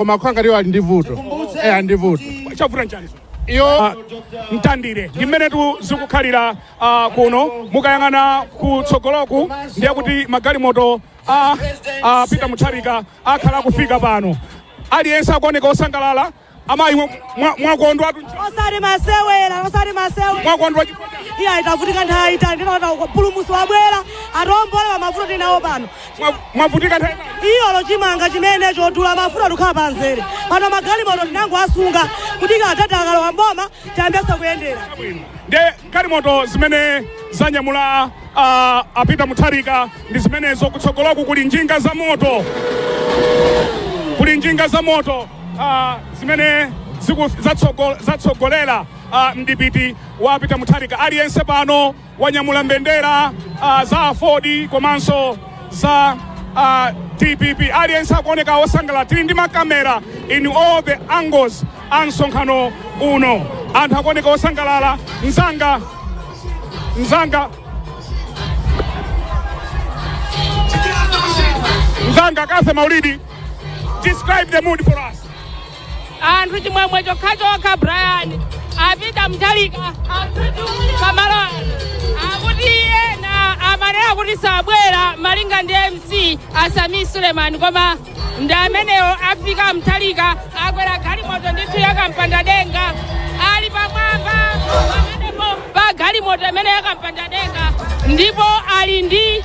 koma kwangali iyo ali ndi vuto eh ali ndi vuto chavuta nchani iyo mtandire ndi mmene tu zikukhalira ah, kuno mukayang'ana kutsogoloku ndiye kuti magalimoto a a peter mutharika akhala akufika pano aliyense akuoneka osangalala amayi mwa- mwa- mwakondwa tu osati masewera osati masewera mwakondwa iya tavutika nthawi itali ndiyetu mpulumutsi wabwera atiombole pamavuto tinawo pano mwavutika nthawi iyolo chimanga chimene chodula mafuta tikukhala pa nzere pano magalimoto tinangoasunga kuti atati akalowa m'boma tiyambenso kuyendera ndiye galimoto zimene zanyamula ah, a peter mutharika ndi zimenezo kutsogoloku kuli njinga za moto kuli njinga za moto ah, zimene ziku- zatsogo- zatsogolera ah, mdipiti wa a peter mutharika aliyense pano wanyamula mbendera uh, za aford komanso za uh, dpp aliyense akuoneka wosangalala tili ndi makamera in all the angles a msonkhano uno anthu akuoneka wosangalala mzanga mzanga mzanga cathy maulidi describe the mood for us anthu chimwemwe chokhachokha brian a peter mutharika pamalo ano akuti ena amanena kuti sabwera malinga ndi mc a sameer suleman koma ndi amenewo afika mutharika akwera galimoto ndithu yakampanda denga ali pamwamba pamenepo pa galimoto imene yakampanda denga ndipo ali ndi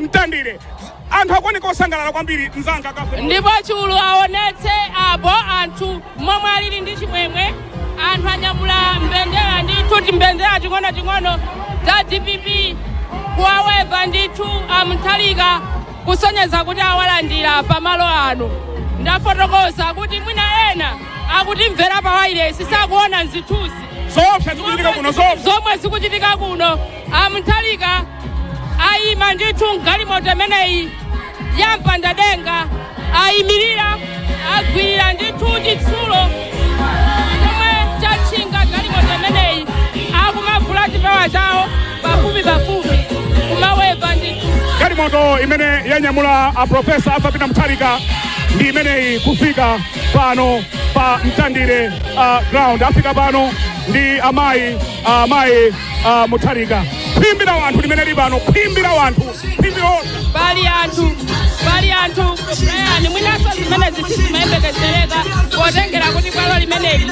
mtandire anthu akuoneka osangalala kwambiri mzanga cathy ndipo chulu aonetse apo anthu momwe alili ndi chimwemwe anthu anyamula mbendera ndithu timbendera ting'ono ting'ono za dpp kuwaweva ndithu a mutharika kusonyeza kuti awalandira pamalo ano ndafotokoza kuti mwina ena akutimvera pa wailesi sakuona zithunzi zoopsa zikuchitika kuno zoopsa zomwe zikuchitika kuno A Mutharika ayima ndithu m'galimoto imeneyi ya mpandadenga, ayimirira, agwirira ndithu chitsulo chomwe chatchinga galimoto imeneyi, akumavula chipewa chawo pafupipafupi, kumaweva ndithu. Galimoto imene yanyamula a Profesa Arthur Peter Mutharika ndi imeneyi kufika pano pa Mtandire uh, ground. Afika pano ndi amayi ah, mayi ah, mutharika khwimbi la wanthu limene lili pano khwimbi la wanthu khwimbilo pali anthu pali anthu brian mwinanso zimene zi- zimayembekezereka potengera kuti bwalo limeneli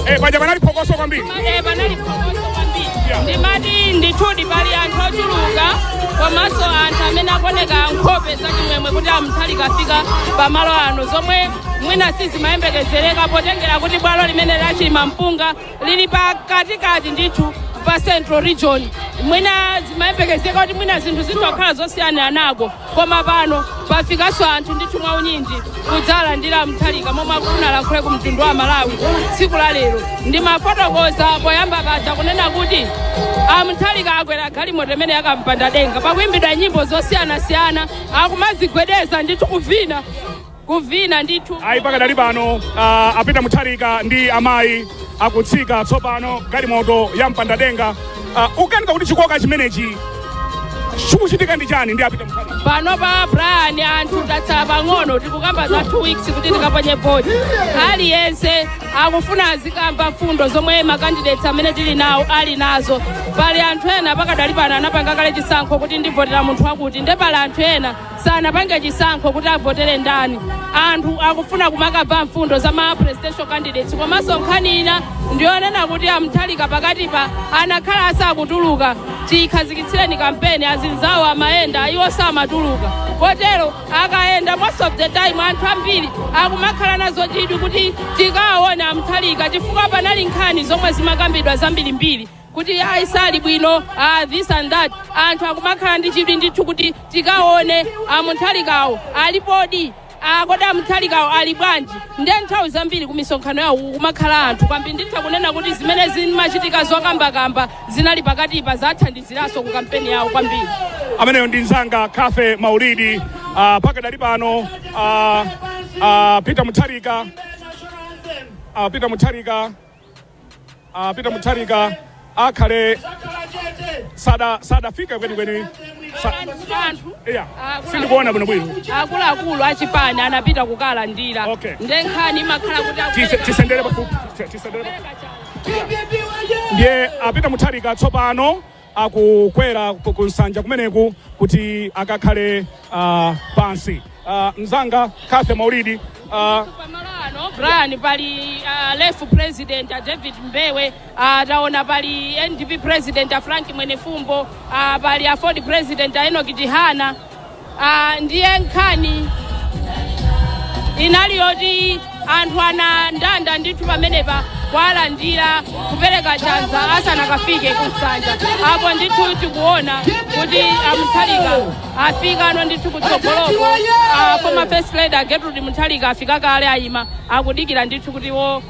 Eh, paja panali phokoso kwambiri Eh, panali phokoso kwambiri ndimati ndithudi pali anthu ochuluka komanso anthu amene akuoneka nkhope zachimwemwe kuti a mutharika afika pamalo ano zomwe mwina sizimayembekezereka potengera kuti bwalo limene la chilimampunga lili pakatikati ndithu pa central region mwina zimayembekezereka kuti mwina zinthu zitha kukhala zosiyaniranako koma pano pafikanso anthu ndithu mwa unyinji kudzalandira a mutharika momwe akufuna alankhule ku mtundu wa malawi tsiku la lero ndimafotokoza poyamba paja kunena kuti a mutharika akwera galimoto imene yakampanda denga pakuimbidwa nyimbo zosiyanasiyana akumazigwedeza ndithu kuvina kuvina ndithu. Ayi, pakadali pano uh, a peter mutharika ndi amayi akutsika tsopano galimoto ya mpandadenga uh, ukaunika kuti chikoka chimenechi chikuchitika ndi chani ndi a peter mutharika panopa brian anthu tatsala pang'ono tikukamba za 2 weeks kuti tikaponye voti aliyense akufuna azikamva mfundo zomwe ma candidates amene tili nawo ali nazo pali anthu ena pakadali pano anapanga kale chisankho kuti ndivotera munthu wakuti nde pali anthu ena sanapange chisankho kuti avotere ndani anthu akufuna kumakamva mfundo za ma presidential candidates komanso nkhani ina ndiyonena kuti a mutharika pakatipa anakhala asakutuluka chikhazikitsireni kampeni azinzawo amayenda iwo samatuluka kotero akayenda most of the time anthu ambiri akumakhala nazo chidwi kuti tikawaone a mutharika chifukwa panali nkhani zomwe zimakambidwa zambirimbiri kuti ayi sali bwino ah, this and that anthu akumakhala ndi chidwi ndithu kuti tikaone a mutharikawo alipodi kodi a mutharikawo ali bwanji nde nthawi zambiri ku misonkhano yawo kumakhala anthu kwambiri nditha kunena kuti zimene zimachitika zokambakamba zinali pakatipa zathandiziranso ku kampeni yawo kwambiri ameneyo ndi mzanga cathy maulidi uh, pakadali pano uh, a peter mutharika a peter mutharika a peter mutharika akhale sada sadafike kwenikweni sa- anthu iya sindikuona bwino bwino akuluakulu achipani anapita kukalandira Okay. nde nkhani imakhala kuti Tise- akupereka- tisendere pafupi Tise- tisendere pafupi. kupereka chani. ndiye a peter mutharika tsopano akukwera ku- kunsanja kumeneku kuti akakhale ah, pansi Ah, mzanga cathy maulidi ah, pamalo ano brian pali uh, lef president a david mbewe uh, taona pali ndp president a frank mwenefumbo uh, pali aford president a enoch chihana Ah, ndiye nkhani inali yoti anthu anandanda ndithu pamenepa kuwalandira kupereka chanza asanakafike kunsanja apo ndithu tikuona kuti a mutharika afikano ndithu kutsogoloko ah, former first lady a gertrude mutharika afika kale ayima akudikira ndithu kuti iwo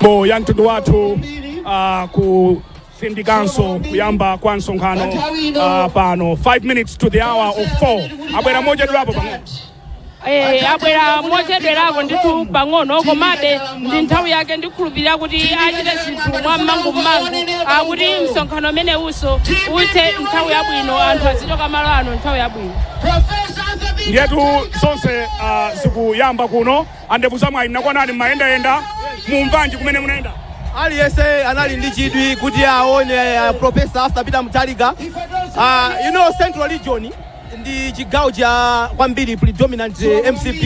bo ya mtundu wathu ah, kutsindikanso kuyamba kwa msonkhano ah, pano 5 minutes to the hour of 4 abwera mochedwerapo pang'ono Eh, abwera mochedwerako ndithu pang'ono komabe ndi nthawi yake ndikhulupirira kuti achite zinthu mwa mmangu mmangu akuti msonkhano umenewunso uthe nthawi yabwino anthu azichoka malo ano nthawi yabwino ndiyetu zonse ah, zikuyamba kuno Andebuza mwayi nakuonani mmayendayenda mumamvanji kumene munayenda? Aliyense anali ndi chidwi kuti aone uh, Professor Arthur Peter Mutharika uh, you know Central Region ndi chigawo cha kwambiri predominant uh, MCP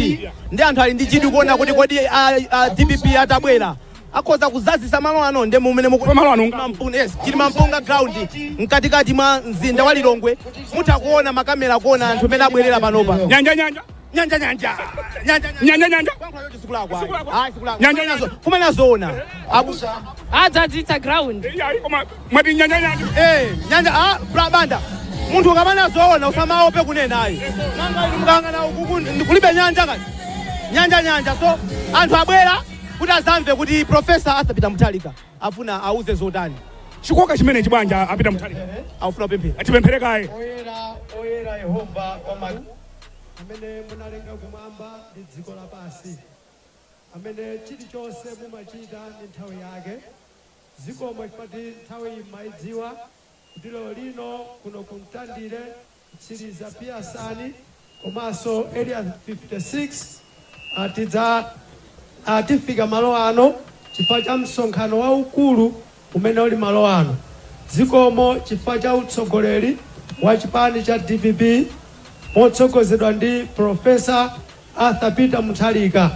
ndi anthu ali ndi chidwi kuona kuti kodi uh, uh, DPP atabwera akhoza kuzazisa malo ano ndi mumene muku- Kwa malo ano nga- Mampunga, yes, Chilimampunga ground mkatikati mwa mzinda wa Lilongwe mutha kuona makamera kuona anthu amene abwerera panopa Nyanja nyanja. nyanja nyanja nyanja nyanja nyanja kwankhayo chizikulakwa ah zikulakwa nyanja nyanja fuma nazona abusa adzadzitsa ground yayi koma mwati nyanja nyanja eh nyanja ah bra banda munthu ukamaona zoona usamaope kunena ayi nanga inu mukangana ukuku ndikulibe nyanja mukuti nyanja nyanja so anthu abwera kuti azamve kuti profesa Arthur Peter Mutharika afuna auze zotani chikoka chimenechi bwana Peter Mutharika afuna pemphera atipemphere kaye oyera oyera yehova wama amene munalenga kumwamba ndi dziko lapansi, amene chilichonse mumachita ndi nthawi yake, zikomo chifukwa kuti nthawiyi mmaidziwa, kuti lero lino kuno ku Mtandire, Mtsiliza, Piyasani komanso Area 56, a Tidza a tifika malo ano chifukwa cha msonkhano waukulu umene uli malo ano. Zikomo chifukwa cha utsogoleri wa chipani cha dpp motsogozedwa ndi Prof. Arthur Peter Mutharika.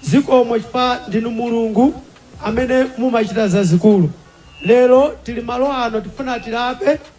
Zikomo chifukwa ndinu Mulungu amene mumachita zazikulu. Lero tili malo ano tifuna tilape.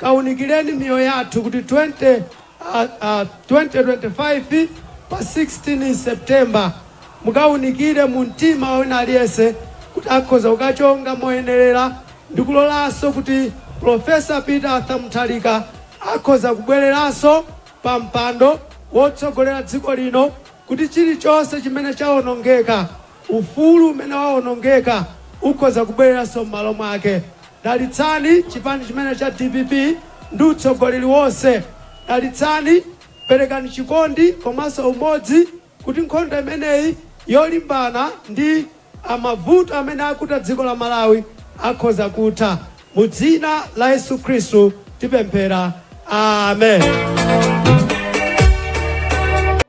Kawunikileni miyoyo yathu kuti 2025 pa 16 September mukawunikire mu mtima wa wina aliyense kuti akhoza kukachonga moyenerera ndi kulolanso kuti Prof. Peter Arthur Mutharika akhoza kubwereranso pa mpando wotsogolera dziko lino kuti chilichonse chimene chawonongeka Ufulu umene wawonongeka ukhoza kubwereranso m'malo mwake. Dalitsani chipani chimene cha dpp ndi utsogoleri wonse. Dalitsani, perekani chikondi komanso umodzi kuti nkhondo imeneyi yolimbana ndi a mavuto amene akuta dziko la Malawi akhoza kutha. Mu dzina la Yesu Khristu tipemphera. Amen.